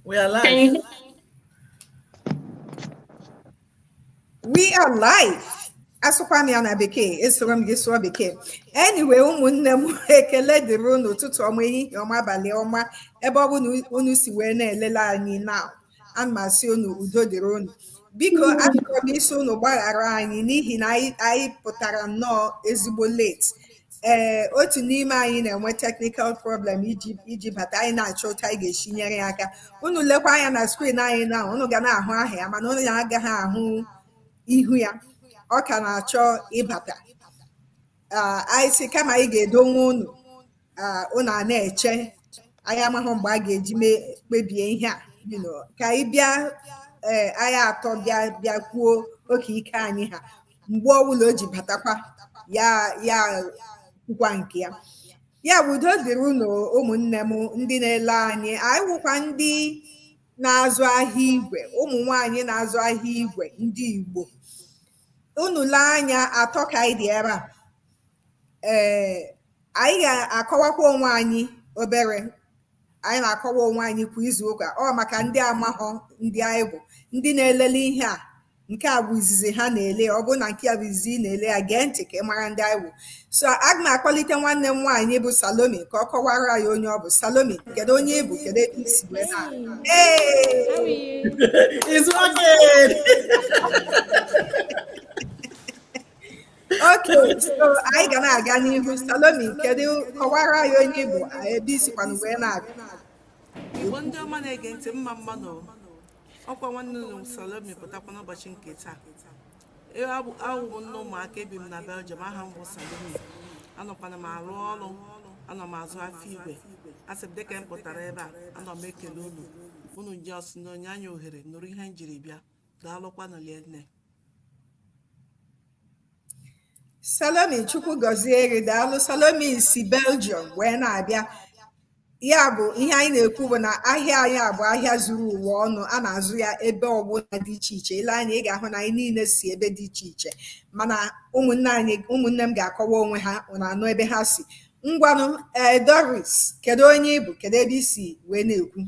We are live. You- we are live. asụkwa m ya na bekee esoro m gị sụọ bekee anyway ụmụnne m ekele dịrị unu ụtụtụ ọma ehihie ọma abalị ọma ebe ọ bụla unu si wee na-elele anyị na ana m asị unu udo dịrị unu biko achọrọ m ịsị unu gbaghara anyị n'ihi na anyị pụtara nnọọ ezigbo late ee otu n'ime anyị na-enwe technical problem iji bata anyị na-achọ otu anyị ga-esi nyere ya aka unu lekwa anya na screen anyị now unu ga na-ahụ aha ya mana unu agaghị ahụ ihu ya ọ ka na-achọ ịbata anyị sị kama anyị ga-edonwe unu unu a na-eche anyị amahụ mgbe a ga-eji mee kpebie ihe a ka anyị bịa ee anyị atọ bịa bịa kwuo oke ike anyị ha mgbe ọbụla o ji batakwa ya ya kwukwa nke ya ya bụ udo dịrị unu ụmụnne m ndị na-ele anyị anyị wụkwa ndị na-azụ ahịa igwe ụmụ nwanyị na-azụ ahịa igwe ndị Igbo unu lee anya atọ ka anyị dị ebe a ee Anyị ga-akọwakwa onwe anyị obere anyị na-akọwa onwe anyị kwa izu ụka ọ maka ndị amahọ ndị anyị bụ ndị na-elele ihe a nke a bụ izizi ha na-ele ọ bụrụ na nke a bụ izizi ị na-ele ya gee ntị ka ị mara ndị anyị bụ so aga m akpọlite nwanne m nwaanyị bụ Salome ka ọ kọwara ya onye ọ bụ Salome kedu onye ị bụ kedu ebe i si wee na It's working! okay so anyị ga na-aga n'ihu salome kedu kọwara anyị onye ị bụ ebe i sikwanụ wee na-abịa igbo ndị ọma na-ege ntị mma mma nụ ọkwa nwanne unu salome pụtakwa n'ụbọchị nke taa ee abụ awụ m nne ụmụaka ebi m na belgium aha m bụ salome anọkwanụ m arụ ọrụ anọ m azụ afịa igwe asị m dịka m pụtara ebe a anọ m ekele unu unu sị unu nye anyị ohere nụrụ ihe m jiri bịa daalụkwanụ rinne salome chukwu gọzie gị daalụ salome si belgium wee na-abịa ya bụ ihe anyị na-ekwu bụ na ahịa anyị a bụ ahịa zuru ụwa ọnụ a na-azụ ya ebe ọbụla dị iche iche i lee anya ị ga-ahụ na anyị niile si ebe dị iche iche mana ụmụnne anyị ụmụnne m ga-akọwa onwe ha unu anụ ebe ha si ngwanụ ee eh, doris kedu onye ị bụ kedu ebe i si wee na-ekwu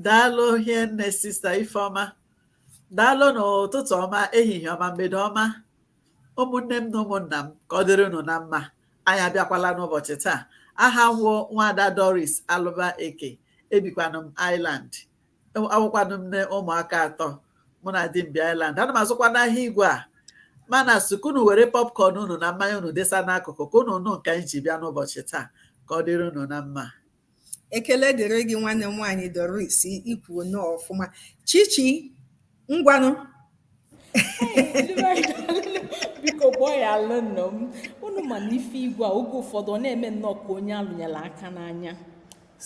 daalụ hienne sister ifeọma daalụ nụ ụtụtụ ọma ehihie ọma mgbede ọma ụmụnne m na ụmụnna m ka ọ dịrị unu na mma anyị abịakwala n'ụbọchị taa aha m wụ nwada doris alụba eke ebikwanụ m ireland awụkwanụ m nne ụmụaka atọ mụ na di m bi ireland ana m azụkwanụ ahịa igwe a mana sị ka unu were popcorn unu na mmanya unu desa n'akụkụ ka unu nụ nke anyị ji bịa n'ụbọchị taa ka ọ dịrị unu na mma Ekele dịrị gị nwanne m nwaanyị Doris i kwuo nnọọ ọfụma Chichi ngwanụ biko gbaghalụnụ m unu ma na ife igwe a oge ụfọdụ ọ na-eme nnọọ ka onye a lụnyelụ aka n'anya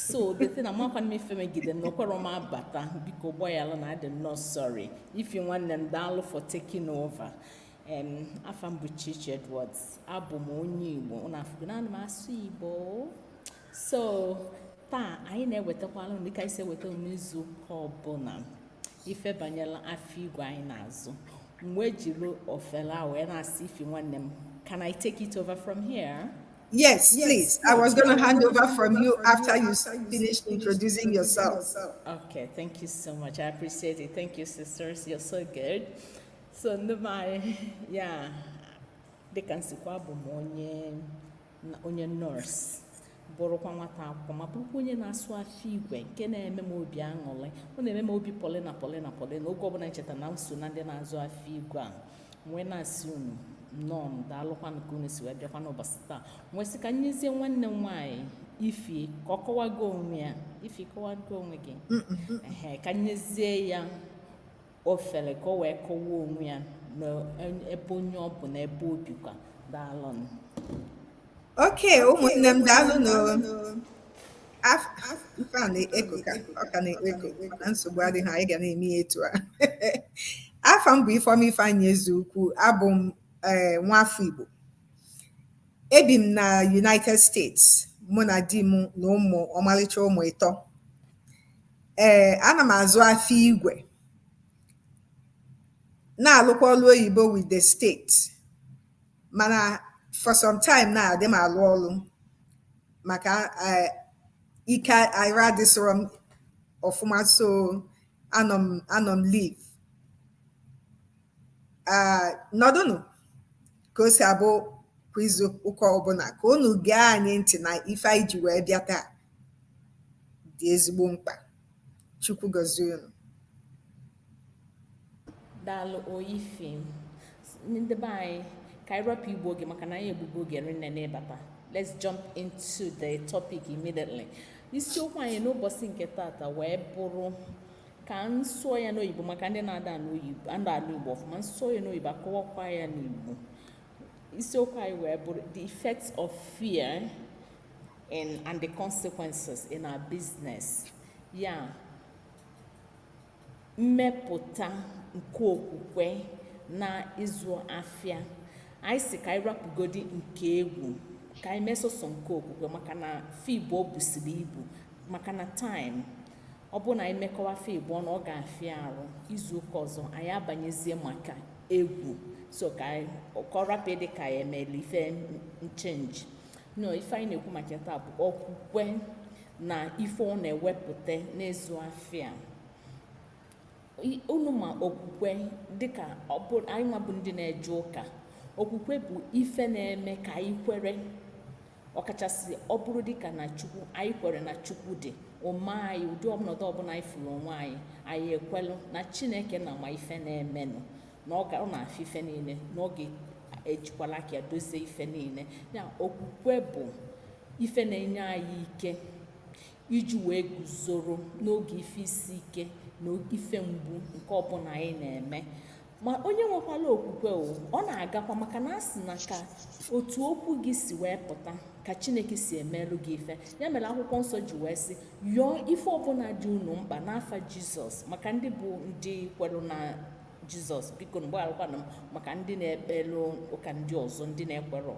so that na makwa m ife megide na o kwerọ m abata biko gbaghalụ na adị m nnọọ sorry Ify nwanne m daalụ for taking over em afa m bụ Chichi Edwards abụ m onye Igbo unu afụgo na ana m asụ Igbo so taa anyị na-ewetakwala dịka anyị si eweta n'izu ụka ọbụla ife banyelụ afịa igwe anyị na-azụ m wee jiri ofele a wee na-asị Ify nwanne m can i take it over from here Yes, yes, please. I was going to hand over from you after you finish introducing yourself. Okay, thank you so much. I appreciate it. Thank you, sisters. You're so good. So, my, yeah, dịka m sịkwa abụ m onye, na onye nurse bụrụkwa nwata akwụkwọ ma bụrụkwa onye na-azụ afịa igwe nke na-eme m obi aṅụrị ọ na-eme m obi polina polina polina oge ọbụla m cheta na m so na ndị na-azụ afịa igwe a m wee na-asị unu nnọọ daalụkwanụ ka unu si wee bịakwa n'ụbọchị taa m wee sị ka m nyezie nwanne m nwaanyị Ify ka ọ kọwago onwe ya Ify ị kọwago onwe gị ka m nyezie ya ofele ka o wee kọwaa onwe ya na ebe onye ọ bụ na ebe o bikwa daalụnụ. okay ụmụnne m daalụnụ o Af- af- ife a na-echo ka ọ ka na-echo na nsogbu adịghị anyị ga na-eme ya etu a afa m bụ Ifeọma Ifeanyị Ezeukwu abụ m eh, nwafọ Igbo ebi m na United States mụ na di m na ụmụ ọmalịcha ụmụ ịtọ Ee, ana m azụ afịa igwe, na-alụkwa ọlụ oyibo with the state. Mana for some time now, adị m alụ ọlụ maka eh, ike arụ adịsịrọ m ọfụma so anọ m anọ m leave. Ah, nọdụnụ. ka o si abụ kwa izu ụka ọbụla ka unu gee anyị ntị na ife anyị ji wee bịa taa dị ezigbo mkpa Chukwu gọzie unu daalụ o Ify ndị be anyị ka anyị rapụ igbu oge maka na anyị egbugo oge rinne n'ịbata let's jump into the topic immediately isiokwu anyị n'ụbọchị nke tata wee bụrụ ka m sụọ ya n'oyibo maka ndị na-ada anụ igbo ọfụma m sụọ ya n'oyibo akọwakwa ya n'igbo isiokwu anyị wee bụrụ the effects of fear in, and the consequences in our business ya mmepụta nke okwukwe na ịzụ afịa anyị sị ka anyị rapụgodi nke egwu ka anyị mee sọsọ nke okwukwe maka na fa ịbụọ busiri ibu maka na time ọ bụrụ na anyị mekọwa fa ịbụọ ọnụ ọ ga-afịa arụ izu ụka ọzọ anyị abanyezie maka egwu so ka ka ọ rapụ ịdị ka anyị emela ife nchenji no ife anyị na-ekwu maka taa bụ okwukwe na ife ọ na-ewepụta n'ịzụ afịa unu ma okwukwe dịka anyị nwa bụ ndị na-eje ụka okwukwe bụ ife na-eme ka anyị kwere ọkachasị ọ bụrụ dịka na chukwu anyị kwere na chukwu dị ọ ma anyị ụdị ọnọdụ ọbụla anyị fụrụ onwe anyị anyị ekwelụ na chineke nna ma ife na-emenụ na ọ na-afụ ife niile na ọ ga-ejikwala aka ya dozie ife niile ya okwukwe bụ ife na-enye anyị ike iji wee guzoro n'oge ife isi ike na ife mgbu nke ọbụla anyị na-eme ma onye nwekwala okwukwe o ọ na-agakwa maka na a sị na ka otu okwu gị si wee pụta ka chineke si emelụ gị ife ya mere akwụkwọ nsọ ji wee sị yọọ ife ọbụla dị unu mkpa n'afa jizọs maka ndị bụ ndị kwere na jizọs biko gbayalụkwanụ m maka ndị na-ekpelụ ụka ndị ọzọ ndị na-ekwerọ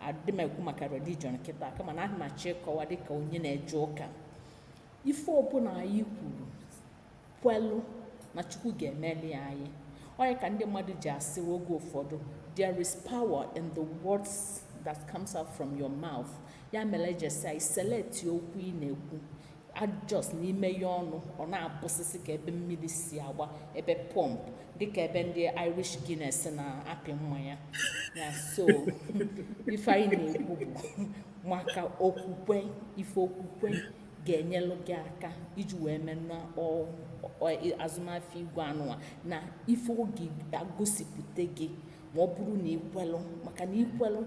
adị m ekwu maka religion kịta kama ana m achọ ịkọwa dịka onye na-eje ụka ife ọbụla anyị kwuru kwelụ na chukwu ga-emeli anyị ọ nya ka ndị mmadụ ji asị oge ụfọdụ there is power in the words that comes out from your mouth ya mere i jesi iselect okwu ị na-ekwu just na imeye ọnụ ọ na-abụsịsị ka ebe mmiri si agba ebe pump dịka ebe ndị irish guinness na-apị mmanya ya so ife anyị na-ekwu bụ maka okwukwe ife okwukwe ga-enyelụ gị aka iji wee mee n'azụmahịa igwe anụwa na ife ọ ga-egosipụta gị ma ọ bụrụ na i kwelụ maka na ikwelụ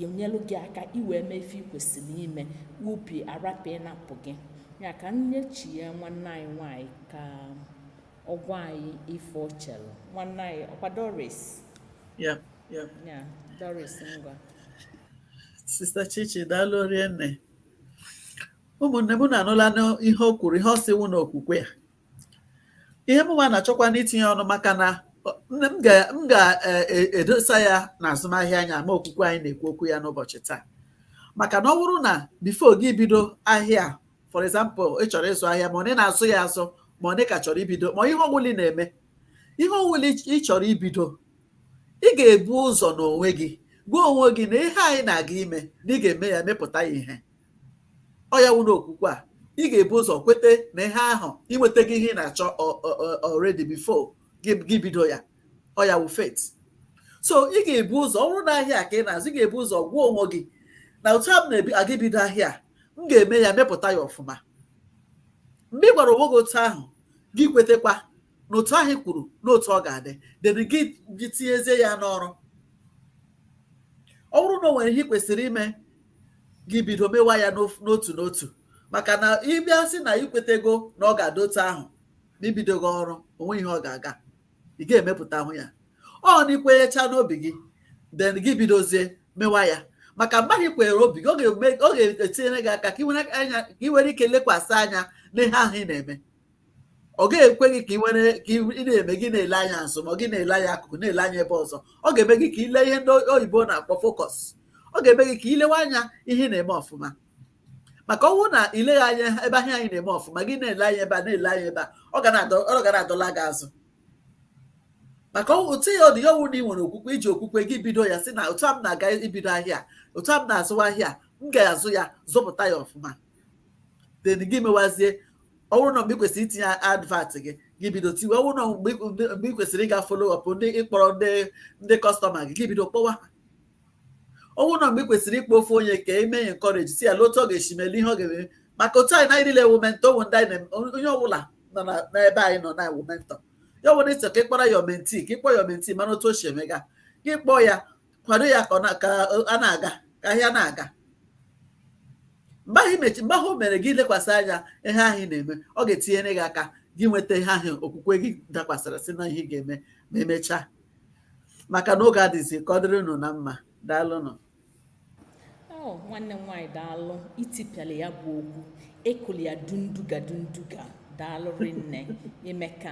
enyelụ gị aka i wee mee ife i kwesịrị ime obi arapụ ịmapụ gị ya ka m nye chi nye nwanne anyị nwanyị ka ọ gwa anyị ife o chelụ nwanne anyị ọ kwa doris ya doris ngwa sista chichi daalụ rie nne ụmụnne m unu anụlanụ ihe o kwuru ihe ọ sị wụ na okwukwe ya ihe mụnwa na-achọkwanụ itinye ọnụ maka na m ga-edosa e, e, ya na azụmahịa anya ma okwukwe anyị na-ekwu okwu ya n'ụbọchị taa maka na ọ bụrụ na before gị bido ahịa for example ị chọrọ ịzụ ahịa ma onye na-azụ ya azụ ma onye ka chọrọ ibido ma ihe ọwụla ị na-eme ihe ọwụla ị chọrọ ibido ị ga-ebu ụzọ n'onwe gị gwa onwe gị na ihe a ị na-aga ime na ị ga-eme ya mepụta ya ihe ọ ya wụ n'okwukwe a ị ga-ebu ụzọ kwete na ihe ahụ i nwetago ihe ị na-achọ already before gị bido ya ọ ya wụ faith so ị ga-ebu ụzọ ọ bụrụ na ahịa ka ị na-azụ ị ga-ebu ụzọ gwa onwe gị na otu a m na-aga ibido ahịa m ga-eme ya mepụta ya ọfụma mgbe ị gwara onwe gị otu ahụ gị kwetekwa na otu ahụ i kwuru na otu ọ ga-adị then gị tinyezie ya n'ọrụ ọ bụrụ na o nwere ihe ị kwesịrị ime gị bido mewa ya n'otu n'otu maka na ị bịa sị na i kwetego na ọ ga-adị otu ahụ ma ibidoghị ọrụ onwe ihe ọ ga-aga ị ga-emepụtahụ ya ọ na ikwenyecha n'obi gị then gị bidozie mewa ya maka mgbe ahụ i kwere obi gị ọ ga-etinyere gị aka ka ị nwere ike lekwasị anya n'ihe ahụ ị na-eme ọ ga-ekweghị ka ị na-eme gị na-ele anya azụ ma gị na-ele anya akụkụ na-ele anya ebe ọzọ ọ ga-eme gị ka ile ihe ndị oyibo na-akpọ focus ọ ga-eme gị ka ilewe anya ihe ị na-eme ọfụma maka ọ wụ na ileghị anya ebe ahịa a ị na-eme ọfụma gị na-ele anya ebe a na-ele anya ebe a ọ ga na-adọla gị azụ maka otu ya ọ dị ya ọ wụ na ị nwere okwukwe iji okwukwe gị bido ya sị na otu a m na-aga ibido ahịa otu a m na-azụwa ahịa m ga-azụ ya zụpụta ya ọfụma then gị mewazie ọ bụrụ na mgbe ị kwesịrị itinye advert gị gị bido tiwe ọ bụrụ na mgbe ị kwesịrị ịga follow up ndị ịkpọrọ ndị ndị customer gị gị bido kpọwa ha ọ bụrụ na mgbe ị kwesịrị ịkpọ ofu onye ka eme ya encourage sị ya lee otu ọ ga-esi mee lee ihe ọ ga-eme maka otu anyị na niile wụ mentor ụmụ ndị anyị onye ọbụla nọ n'ebe anyị nọ na wụ mentor ya ọ bụrụ na ịchọ ka ị kpọrọ your mentee ka ị kpọọ your mentee mara otu o si emega gị kpọọ ya kwado ya ka a na-aga ka ahịa na-aga mgbe ahụ imechi mgbe ahụ o mere gị lekwasị anya ihe ahụ ị na-eme ọ ga-etinyere gị aka gị nweta ihe ahụ okwukwe gị dakwasịrị sị na ihe ị ga-eme ma emechaa maka na oge adịzị ka ọ dịrị unu na mma daalụnụ Oh, nwanne m nwaanyị daalụ i tipịala ya bụ okwu ị kụli ya dunduga dunduga daalụ rinne i meka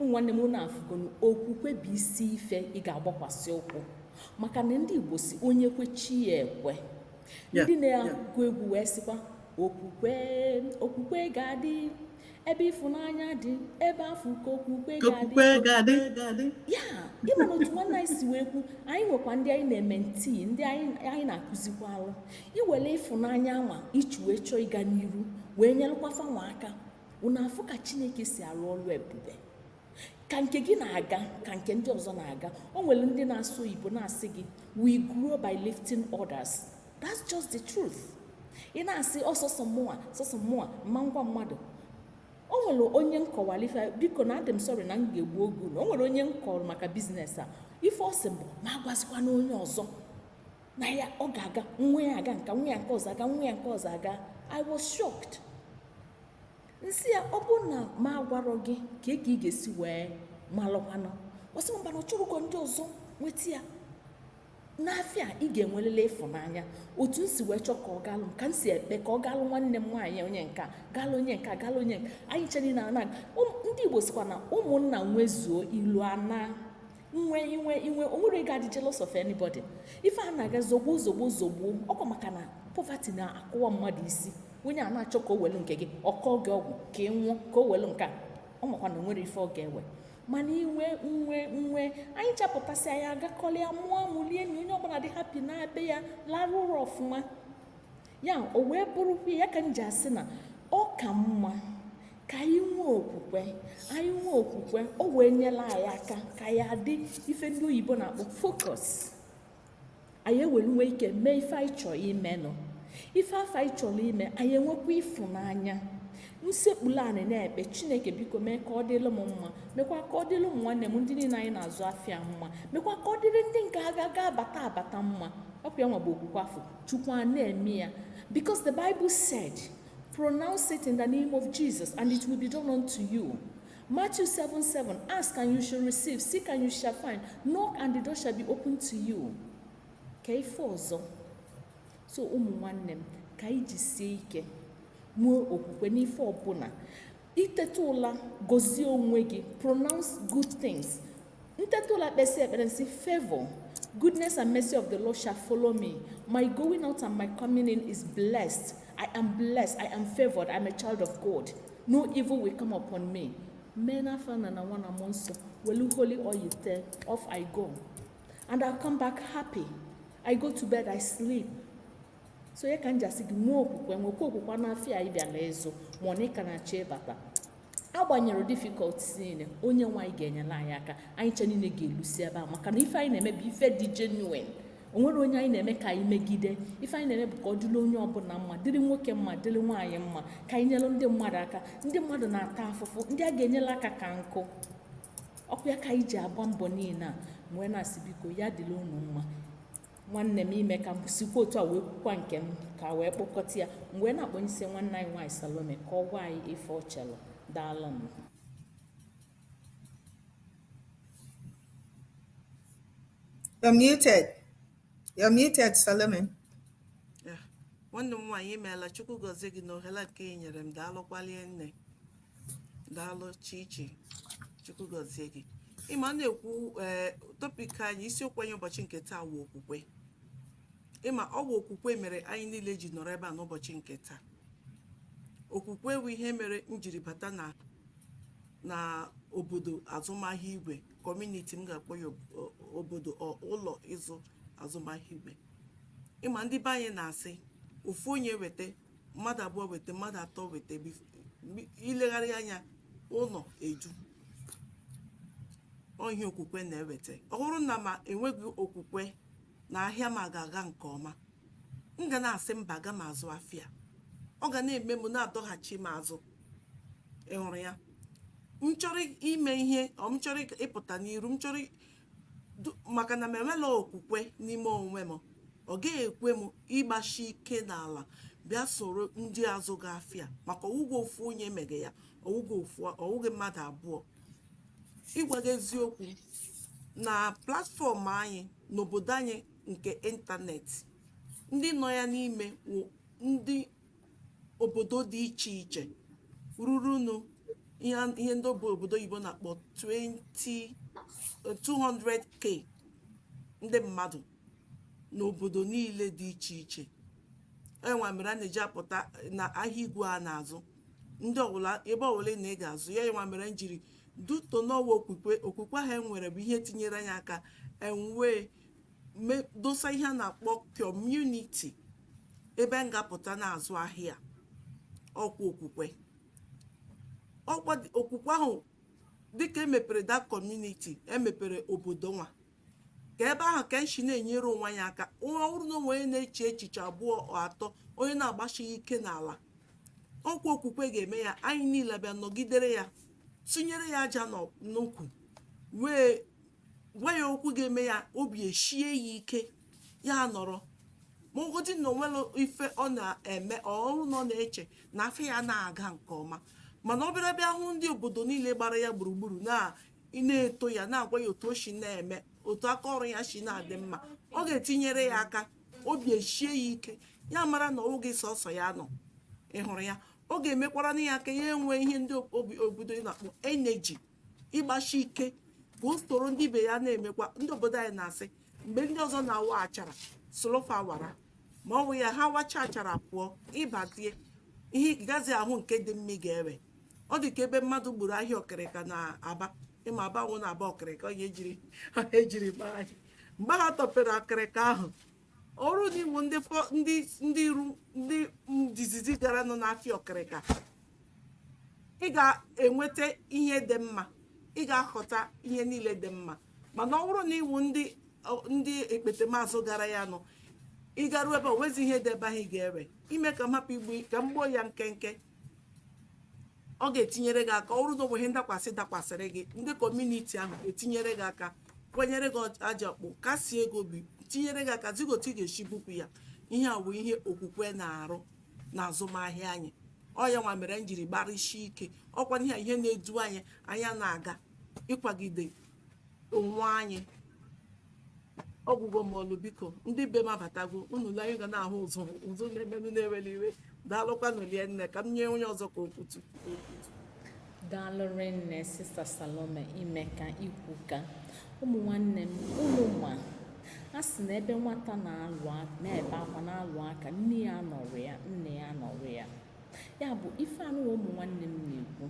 nwanne m unu afụgonụ okwukwe bụ isi ife ị ga-agbakwasị ụkwụ maka na ndị Igbo sị onye kwe chi ya ekwe ndị na-agụ egwu wee sịkwa okwukwe okwukwe ga-adị ebe ịfụnanya dị ebe afụ ka okwukwe ga-adị ya ịma na otu nwanne anyị si wee kwu anyị nwekwa ndị anyị na-eme ntii ndị anyị na-akụzikwalụ i nwele ịfụnanya nwa i ji wee chọọ ịga n'iru wee nyelụkwa fa nwa aka unu afụ ka chineke si alụ ọlụ ebube ka nke gị na-aga ka nke ndị ọzọ na-aga o nwere ndị na-asụ oyibo na-asị gị we grow by lifting others that's just the truth ị na-asị ọ sọsọ mụnwa sọsọ mụnwa m ma-agwa mmadụ o nwere onye m kọwalụ ife biko na adị m sorry na m ga-egbu oge na o nwere onye m kọrọ maka business a ife ọ sị m bụ m agwazikwana onye ọzọ na ya ọ ga-aga nwa ya aga nka nwa ya nke ọzọ aga nwa ya nke ọzọ aga i was shocked m sị ya ọ bụ na m agwarọ gị kee ka ị ga-esi wee malụkwanụ ọ sị mba na ọ chọrọ ka ndị ọzọ nweta ya n'afịa ị ga-enwelịlị ịfụnanya otu m si wee chọọ ka ọ galụ m ka m si ekpe ka ọ galụ nwanne m nwaanyị onye nka galụ onye nka galụ onye nka anyị ncha niine ndị igbo sịkwa na ụmụnna nwezuo ilo anaa m nwee i nwee i nwee o nwerọ onye ga-adị jealous of anybody ife a na-aga zogbu zogbu zogbu ọ kwa maka na poverty na-akụwa mmadụ isi onye a na-achọ ka o welu nke gị ọ kọọ gị ọgwụ ka ị nwụọ ka o welu nke a ọ maka na o nwerọ ife ọ ga-ewe mana i nwee m enwee anyị ncha pụtasịa anyị agakọlịa mụọ amụ lie nni onye ọbụla dị happy naa be ya larụ ụra ọfụma ya o wee bụrụkwa ya ka m ji asị na ọ ka mma ka anyị nwee okwukwe anyị nwee okwukwe o wee nyelụ anyị aka ka anyị dị ife ndị oyibo na-akpọ focus anyị ewee nwee ike mee ife anyị chọrọ imenụ ife afụ anyị chọrọ ime anyị enwekwa ịfụnanya m sekpulu anị na-ekpe chineke biko mee ka ọ dịlụ m mma mekwa ka ọ dịlụ ụmụ nwanne m ndị niile anyị na-azụ afịa mma mekwa ka ọ dịrị ndị nke aka ga-abata abata mma ọ kwa ya nwa bụ okwukwe afụ chukwu a na-eme ya because the bible said pronounce it in the name of jesus and it will be done unto you Matthew 7 7 Ask and you shall receive, seek and you shall find, knock and the door shall be open to you. Ka ife ọzọ so ụmụ nwanne m ka anyị jisie ike nwee okwukwe n'ife ọbụla i teta ụla gozie onwe gị pronounce good things m teta ụla kpesịa ekpere m sị favor goodness and mercy of the lord shall follow me my going out and my coming in is blessed i am blessed i am favored i am a child of god no evil will come upon me mee n'afa nna na nwa na mmụọ nsọ welu holy oil tee off i go and i'll come back happy i go to bed i sleep so ya ka m ji asị gị nwee okwukwe nwekwa okwukwe n'afịa ị bịa na-azụ ma ọ na ị ka na-achọ ịbata agbanyere difficulties niile onye nwe anyị ga-enyere anyị aka anyị ncha niile ga-elusi ebe a maka na ife anyị na-eme bụ ife dị genuine o nwerọ onye anyị na-eme ka anyị megide ife anyị na-eme bụ ka ọ dịrị onye ọbụla mma dịrị nwoke mma dịrị nwaanyị mma ka anyị nyere ndị mmadụ aka ndị mmadụ na-ata afụfụ ndị a ga-enyere aka ka nkụ ọkwa ya ka anyị ji agba mbọ niile a wee na-asị biko ya dịrị unu mma nwanne m ime ka m sikwa otu a wee kwukwa nke m ka wee kpọkọta ya m wee na-akpọnyesi nwanne anyị nwaanyị salome ka ọ gwa anyị ife o chelu daalụ m You're muted. You're muted, Salome. nwanne m nwaanyị imeela chukwu gọzie gị na ohere nke i nyere m daalụkwa lie nne daalụ chichi chukwu gọzie gị ịma na-ekwu ee topik anyị isiokwu anyị ụbọchị nke taa wụ okwukwe ịma ọ wụ okwukwe mere anyị niile ji nọrọ ebe a n'ụbọchị nke taa okwukwe wụ ihe mere m jiri bata na na obodo azụmahịa igwe kọmuniti m ga-akpọ ya obodo ụlọ ịzụ azụmahịa igwe ịma ndị be anyị na-asị ofu onye weta mmadụ abụọ weta mmadụ atọ weta bif- mgbe- ilegharị anya ụlọ eju ọ ihe okwukwe na-eweta ọ wụrụ na mụ enweghị okwukwe na ahịa m ga-aga nke ọma m ga na-asị mba aga m azụ afịa ọ ga na-eme m na-adọghachi m azụ ị hụrụ ya m chọrọ ime ihe or m chọrọ ịpụta n'iru m chọrọ maka na m enwela okwukwe n'ime onwe m ọ gaghị ekwe m ịgbashi ike n'ala bịa soro ndị azụga afịa maka ọwụghị ofu onye mege ya ọwụghị mmadụ abụọ ịgwa gị eziokwu na platfọm anyị n'obodo anyị nke ịntanetị ndị nọ ya n'ime wụ ndị obodo dị iche iche rurunu ihe a- ihe ndị bụ obodo oyibo na-akpọ 20 200k ndị mmadụ n'obodo niile dị iche iche ihe nwa mere a na-eji apụta na ahịa igwe a na-azụ ndị ọbụla ebe ọbụla ị nọ ị ga-azụ ya ihe nwa mere m jiri duto n'ọwa okwukwe okwukwe ahụ e nwere bụ ihe tinyere anyị aka enwee me- dosa ihe a na-akpọ kọmuniti ebe m ga-apụta na-azụ ahịa ọkwa okwukwe ọkwa okwukwe ahụ dịka emepere that community emepere obodo nwa ka ebe ahụ ka anyị shi na-enyere onwe anyị aka ọ wụrụ na o nwee onye na-eche echiche abụọ atọ onye na-agbasighị ike n'ala ọkwa okwukwe ga-eme ya anyị niile bịa nọgidere ya tụnyere ya aja n'ukwu wee gwa ya okwu ga-eme ya obi eshie ya ike ya nọrọ ma ogodi na o nwere ife ọ na-eme ọ wụrụ na ọ na-eche na afịa ya na-aga nke ọma mana ọ bịara bịa hụ ndị obodo niile gbara ya gburugburu na-eto ya na-agwa ya otu o si na-eme otu aka ọrụ ya si na-adị mma ọ ga-etinyere ya aka obi esie ya ike ya mara na ọ wụghị sọsọ ya nọ ị hụrụ ya ọ ga-emekwara na ya aka ya enwe ihe ndị obodo na-akpọ energy ịgbasi ike ka o soro ndị ibe ya na-emekwa ndị obodo anyị na-asị mgbe ndị ọzọ na-awa achara solo fa wara ma ọ bụ ya ha wacha achara pụọ ị bịazie ị gazi ahụ nke dị mma ị ga-ewe ọ dị ka ebe mmadụ gburu ahịa ọkịrịka na aba ị ma aba ọ wụ na aba ọkịrịka onye ejiri ejiri gbaa ahịa mgbe ha tọpere ọkịrịka ahụ ọ wụrụ na ị wụ ndị fọ- ndị ndị iru ndị izizi garanụ n'afịa ọkịrịka ị ga-enweta ihe dị mma ị ga-ahọta ihe niile dị mma mana ọ bụrụ na ị wụ ndị ọ- ndị ekpetemazụ gara ya nụ ị garuo ebe o nwezi ihe dị ebe ahụ ị ga-ewe ime ka m hapụ igbu ka m gbuo ya nkenke ọ ga-etinyere gị aka ọ wụrụ na o nwe ihe ndakwasị dakwasịrị gị ndị community ahụ etinyere gị aka kwanyere gị aja kpụ kasie gị obi tinyere gị aka zi gị otu ị ga-esi bupụ ya ihe a bụ ihe okwukwe na-arụ na azụmahịa anyị ọ ya nwa mere anyị jiri gbarịsie ike ọ kwa ihe ihe na-edu anyị anyị ana-aga ịkwagide onwe anyị ọ gwụgwo m ọlụ biko ndị be m abatago unu le anyị ga na-ahụ ụzụ ụzụ na-emenụ na-ewere iwe daalụkwanụ rinne ka m nye onye ọzọ ka o kwutu daalụ rinne sister salome i meka i kwuka ụmụ nwanne m unu ma a sị na ebe nwata na-alụ na-ebe akwa na-alụ aka nne ya anọrọ ya nna ya nọrọ ya ya bụ ife anụwa ụmụ nwanne m na-ekwu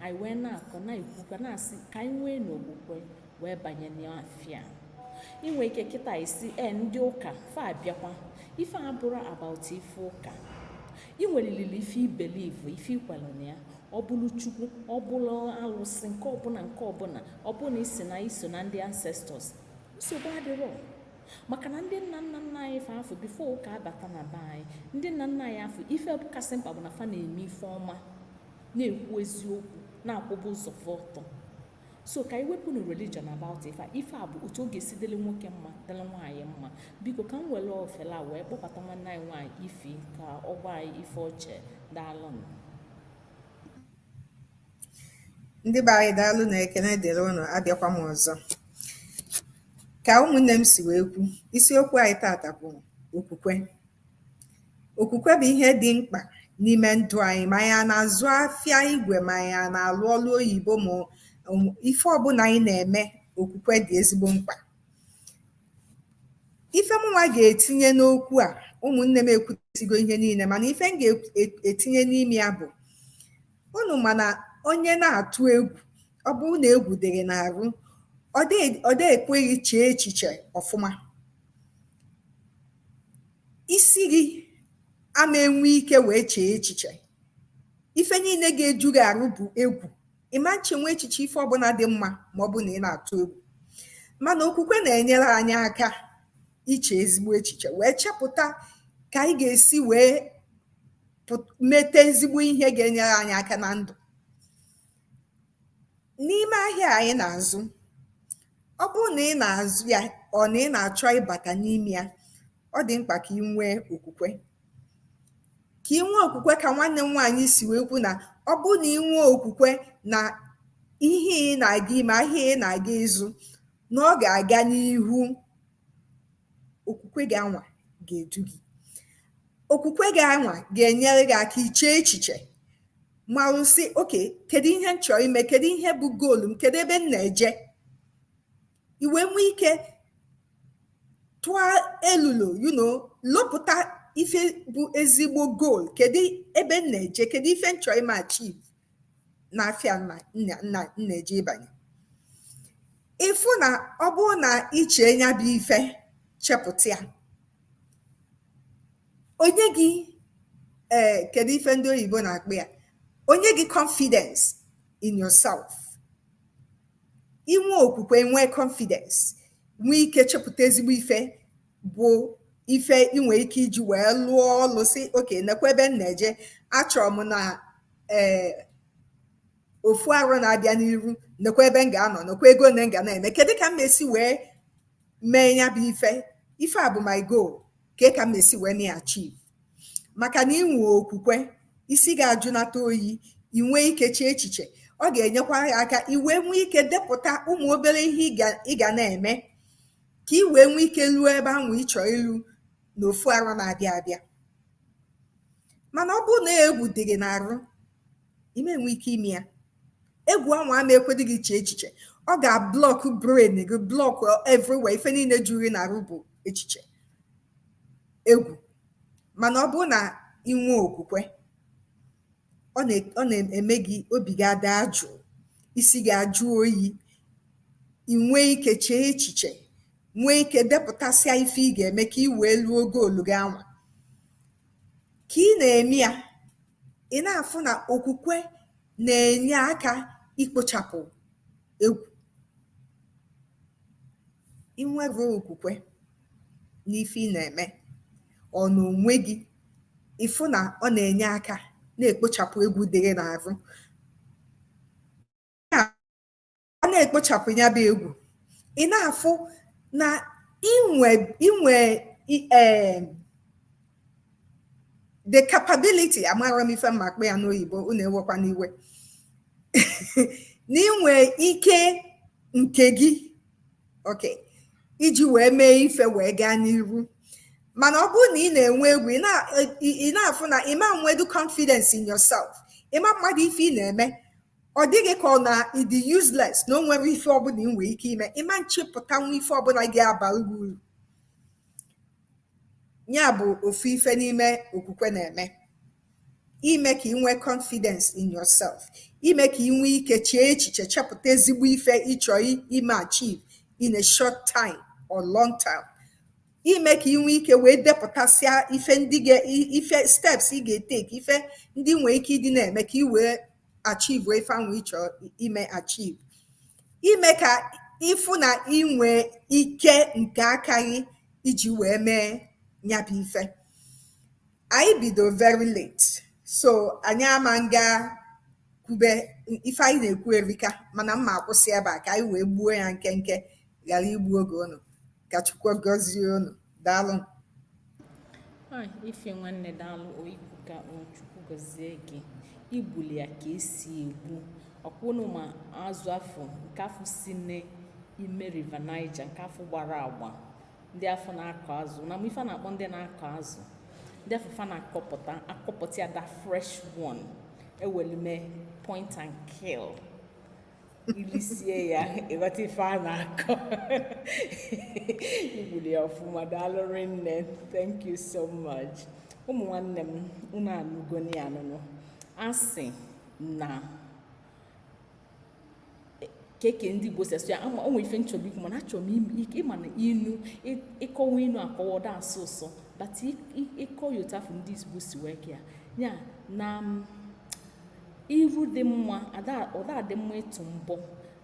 anyị wee na-akọ na-ekwukwa na-asị ka anyị nwee n'okwukwe wee banye n'afịa i nwee ike kịta ị sị e ndị ụka fa abịakwa ife a abụrọ about ife ụka i nweriri ife ị believe ife i kwere na ya ọ bụrụ chukwu ọ bụrụ alụsị nke ọbụla nke ọbụla ọ bụrụ na ị sị na i so na ndị ancestors nsogbu adịrọ maka na ndị nna nna nna anyị fa afụ before ụka abata na be anyị ndị nna nna anyị afụ ife kasị mkpa bụ na fa na-eme ife ọma na-ekwu eziokwu na-akwụba ụzọ fa ọtọ so ka anyị wepụnụ religion about ife ife a bụ otu ọ ga-esi dịrị nwoke mma dịrị nwaanyị mma biko ka m were ofele a wee kpọbata nwanne anyị nwaanyị ify ka ọ gwa anyị ife o che daalụnụ ndị be anyị daalụnụ ekene dịrị ụnụ abịakwa m ọzọ Ka ụmụnne m si wee kwu, isiokwu anyị tata bụ okwukwe. Okwukwe bụ ihe dị mkpa n'ime ndụ anyị ma anyị ana-azụ afịa igwe ma anyị ana-alụ ọlụ oyibo ma ife ọbụna anyị na-eme okwukwe dị ezigbo mkpa. Ife mụnwa ga-etinye n'okwu a ụmụnne m ekwusigo ihe niile mana ife m ga-etinye n'ime ya bụ unu ma na onye na-atụ egwu ọ bụrụ na egwu dịrị n'arụ ọ dị ekwe gị chee echiche ọfụma isi gị ama enwe ike wee chee echiche ife niile ga-eju gị arụ bụ egwu ị ma nchenwu echiche ife ọbụna dị mma ma ọ bụ na ị na-atụ egwu mana okwukwe na-enyere anyị aka iche ezigbo echiche wee chepụta ka anyị ga-esi wee mete ezigbo ihe ga-enyere anyị aka na ndụ n'ime ahịa anyị na-azụ ọ bụrụ na ị na-azụ ya or na ị na-achọ ịbata n'ime ya ọ dị mkpa ka ị nwee okwukwe ka ị nwee okwukwe ka nwanne m nwaanyị si wee kwu na ọ bụrụ na ị nwee okwukwe na ihe ị na-aga ime ahịa ị na-aga ịzụ na ọ ga-aga n'ihu okwukwe gị anwa ga-edu gị okwukwe gị anwa ga-enyere gị aka iche echiche malụ sị okay kedu ihe m chọrọ ime kedu ihe bụ goal m kedu ebe m na-eje ị wee nwee ike tụọ elulo you know lopụta ife bụ ezigbo goal kedu ebe m na-eje kedu ife m chọrọ ime achieve na afịa m na-eje ịbanye ị fụ na ọ bụrụ na ị chee nya bụ ife chepụta ya ọ nye gị ee eh, kedu ife ndị oyibo na-akpọ ya ọ nye gị confidence in yourself ị nwee okwukwe nwee confidence nwee ike chepụta ezigbo ife bụ ife ị nwee ike iji wee lụọ ọlụ sị okay nekwa ebe m na-eje achọrọ m na ee eh, ofu arọ na-abịa n'iru nekwa ebe m ga-anọ nekwa ego one m ga na-eme kedu ka m na-esi wee mee ya bụ ife ife a bụ my goal kee ka m esi wee na achieve maka na ị nwee okwukwe isi ga-ajụnata oyi ị nwee ike chee echiche ọ ga-enyekwa gị aka ị wee nwee ike depụta ụmụ obele ihe ị ga na-eme ka ị wee nwee ike luo ebe ahụ ị chọ ilu na ofu arọ na-abịa abịa mana ọ bụrụ na egwu dị gị n'arụ ị ma enwe ike ime ya egwu anwa ama ekwedu gị chee echiche ọ ga-ablock brain gị block everywhere ife niile juru gị n'arụ bụ echiche egwu mana ọ bụrụ na ị nwee okwukwe ọ na- ọ na-eme gị obi gị ada jụụ isi gị ajụ oyi ị nwee ike chee echiche nwee ike depụtasịa ife ị ga-eme ka ị wee luo goolu gị anwa Ka ị na-eme ya, ị na-afụ na okwukwe na-enye aka ikpochapụ egwu. I nwere okwukwe n'ife ị na-eme, or n'onwe gị, ị fụ na ọ na-enye aka na-ekpochapụ egwu dị gị n'arụ. a na-ekpochapụ ya bụ egwu ị na-afụ na inwe inwe e, the capability amarọ m ife m ma-akpọ ya n'oyibo unu ewekwana iwe na inwe ike nke gị ok iji wee mee ife wee gaa n'iru mana ọ bụrụ na ị na-enwe egwu ị na-afụ na ị ma enwedu confidence in yourself ị ma amadu ife ị na-eme ọ dị gị ka ọ na ị dị useless na o nwerọ ife ọbụla ị nwere ike ime ị ma echepụtanwu ife ọbụla ga-abara gị uru ya bụ ofu ife n'ime okwukwe na-eme ime ka ị nwee confidence in yourself ime ka ị nwee ike chee echiche chepụta ezigbo ife ị chọ ime achieve in a short time or long time ime ka ị nwee ike wee depụtasịa ife ndị ife steps ị ga-etake ife ndị ị nwee ike ịdị na-eme ka ị wee achieve ife anwa ị chọ ime achieve ime ka ị fụ na i nwe ike nke aka gị iji wee mee ya bụ ife anyị bido very late so anyị ama nga kwube ife anyị na-ekwu erika mana m ma-akwụsị ebe a ka anyị wee gbuo ya nkenke ghara igbu oge unu ka Chukwu gọzie unu daalụ ife nwanne daalụ oyiku ka chukwu gọzie gị i gbuli ya ka e si egbu ọkwa unu ma azụ afụ nke afụ si n'ime River Niger nke afụ gbara agba ndị afụ na-akụ azụ na ife a na-akpọ ndị na-akụ azụ ndị afụ fa na-akụpụta akụpụta ya the fresh one e weli mee point and kill i lisie ya ị ghọta ife a na-akọ i gbuli ya ọfụma daalụ rinne thank you so much ụmụ nwanne m unu anụgo anụnụ a sị na keke ndị igbo si asụ ya ama o nwe ife m chọrọ ikwu mana achọrọ m ịma na inu ị kọwa inu akọwa ọ da-asọ ụsọ but ị kọọ ya otu afụ ndị igbo si wee kee ya ya na iru dị mma ọ da adị mma ịtụ mbọ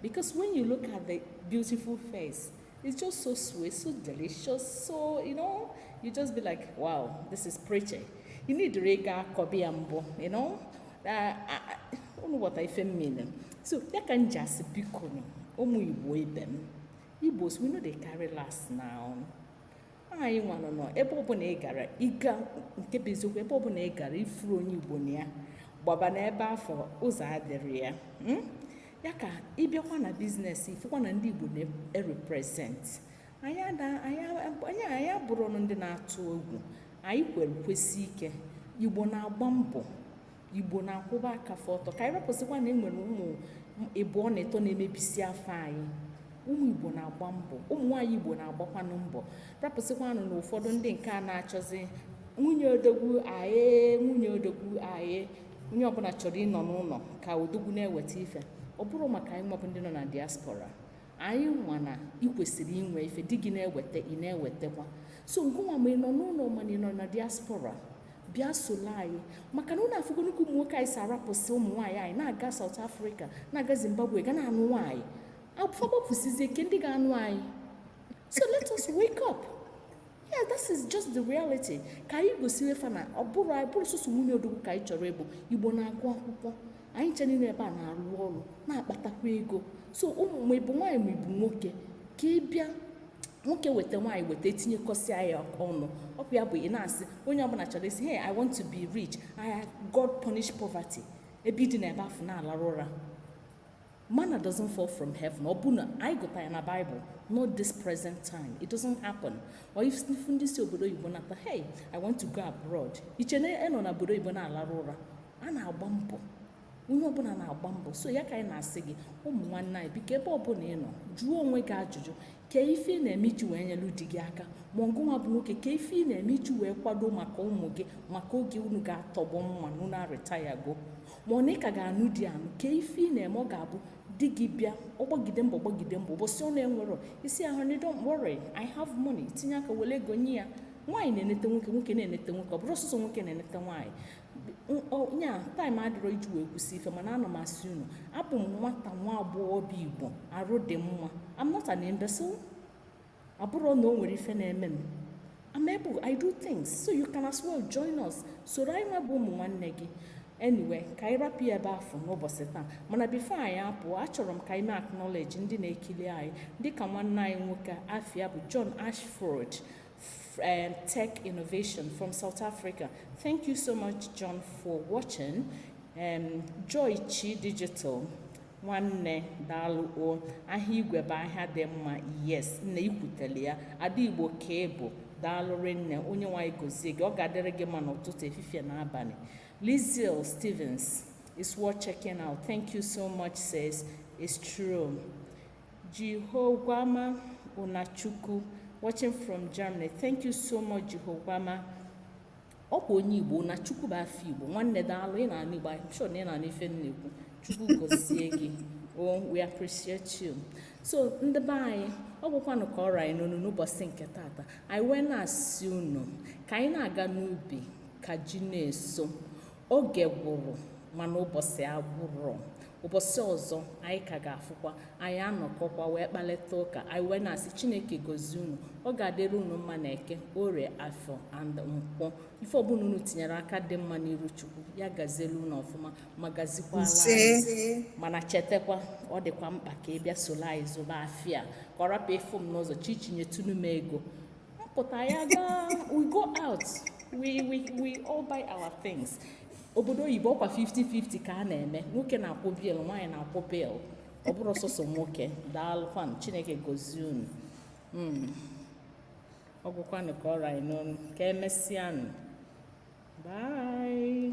because when you look at the beautiful face it's just so sweet so delicious so you know you just be like wow this is pretty you need ịga akọbi ya mbọ you know unu ghọta ife m mean so ya ka m ji asị biko ụmụ igbo ibe m igbos we no dey carry last now anyị nwa nọ ebe ọbụna ị gara ịga nke bụ eziokwu ebe ọbụna ị gara ị fụrọ onye igbo na ya gbaba n'ebe afụ ụzọ adịrọ ya hmm? ya ka ị bịakwa na business ị fụkwa na ndị igbo na-erepresent anyị abụrọnụ ndị na-atụ egwu anyị kwere kwesie ike igbo na-agba mbọ igbo na-akwụba aka fa ọtọ ka anyị rapụsịkwa na enwere ụmụ ịbụọ na ịtọ na-emebisi afa anyị ụmụ igbo na-agba mbọ ụmụ nwaanyị igbo na-agbakwanụ mbọ rapụsịkwanụ na ụfọdụ ndị nke a na-achọzi nwunye odogwu aye nwunye odogwu aye onye ọbụna chọrọ ịnọ n'ụnọ ka odogwu na-eweta ife ọ bụrọ maka anyị nwa bụ ndị nọ na diaspora anyị nwa na ị kwesịrị inwe ife di gị na-eweta ị na-ewetakwa so ngịnwa ma ị nọ n'ụnọ ma ị nọ na diaspora bịa solo anyị maka na unu afụgonụ ka ụmụ nwoke anyị si arapụsị ụmụ nwaanyị anyị na-aga South Africa na-aga Zimbabwe ga na-anụ nwaanyị fa gbapụsizie kee ndị ga-anụ anyị so let us wake up yeah this is just the reality ka anyị gosiwe fa na ọ bụrọ anyị bụrọ sọsọ nwunye odogwu ka anyị chọrọ ịbụ igbo na-agụ akwụkwọ anyị ncha niine ebe a na-arụ ọrụ na-akpatakwa ego so ụmụ ma ị bụ nwaanyị ma ị bụ nwoke ka ị bịa nwoke weta nwaanyị weta etinyekọsịa ya ọnụ ọkwa ya bụ ị na-asị onye ọbụna chọrọ ịsị hey i want to be rich yeah god punish poverty ebe ị dina ebe afụ na-alarụ ụra Manna doesn't fall from heaven. Ọbụna anyị gụta ya na Bible, not this present time. It doesn't happen. O ị fụ ndị si obodo oyibo nata, hey, I want to go abroad. Ị chee na a nọ na obodo oyibo na-alarụ ụra. A na-agba mbọ. onye ọbụna na-agba mbọ so ya ka anyị na-asị gị ụmụ nwanne anyị biko ebe ọbụna ị nọ jụọ onwe gị ajụjụ kee ife ị na-eme iji wee nyelu di gị aka ma gịnwa bụ nwoke kee ife ị na-eme iji wee kwado maka ụmụ gị maka oge unu ga-atọgbọ mma na unu aretirego ma ọ na ị ka ga-anụ di anụ kee ife ị na-eme ọ ga-abụ di gị bịa ọ gbagide mbọ gbagide mbọ ụbọsị ọ na-enwerọ ị sị honey don't worry I have money tinye aka wele ego nye ya nwaanyị na-enete nwoke nwoke na-enete nwoke ọ bụrọ sọsọ nwoke na-enete nwaanyị nya time adịrọ iji wee kwusi ife mana ana m asị unu abụ m nwata nwa agbọghọbịa igbo arụ dị mma I'm not an imbecile ọ bụrọ na o nwere ife na-eme m I'm able I do things so you can as well join us soro anyị nwa bụ ụmụ nwanne gị anyway ka anyị rapụ ya ebe afụ n'ụbọsị taa mana before anyị apụọ achọrọ m ka anyị mee acknowledge ndị na-ekili anyị dịka nwanne anyị nwoke afa ya bụ John Ashford um, tech innovation from South Africa. Thank you so much, John, for watching. Um, Joy Chi Digital. nwanne daalụ o ahịa igwe bụ ahịa dị mma yes nne i kwutele ya ada igbo ka ị bụ daalụ rinne Onyenwe anyị gozie gị ọ ga-adịrị gị mma n'ụtụtụ efifie na abalị Lizelle Stevens it's worth checking out thank you so much sis it's true Jehogwama Unachukwu watching from Germany. Thank you so much Jehogwama. Ọkwa onye Igbo Unachukwu bụ afa Igbo nwanne daalụ ị na-anụ Igbo I'm sure na ị na-anụ ife m na-ekwu Chukwu gozie gị oh we appreciate you so ndị be anyị ọ gwụkwanụ ka ọ ra anyị n'ọnụ n'ụbọsị nke tata anyị wee na-asị unu ka anyị na-aga n'ubi ka ji na-eso oge gwụrụ mana ụbọsị agwụrọ ụbọsị ọzọ anyị ka ga-afụkwa anyị anọkọkwa wee kparịta ụka anyị wee na-asị chineke gozie unu ọ ga-adịrị unu mma na eke orie afọ and nkwọ ife ọbụla unu tinyere aka dị mma n'iru chukwu ya gazielu unu ọfụma ma gazikwalụ anyị mana chetakwa ọ dịkwa mkpa ka ị bịa solo anyị zụba afịa ka ọ rapụ ịfụ m n'ụzọ Chichi nyetụnụ m ego pụta ya gaa we go out we we we all buy our things obodo oyibo ọkwa 50-50 ka a na-eme nwoke na-akwụ bill nwaanyị na-akwụ bill ọ bụrọ sọsọ nwoke daalụkwanụ chineke gozie unu hmm. ọ gwụkwanụ ka ọ ra anyị n'ọnụ ka emesịanụ bye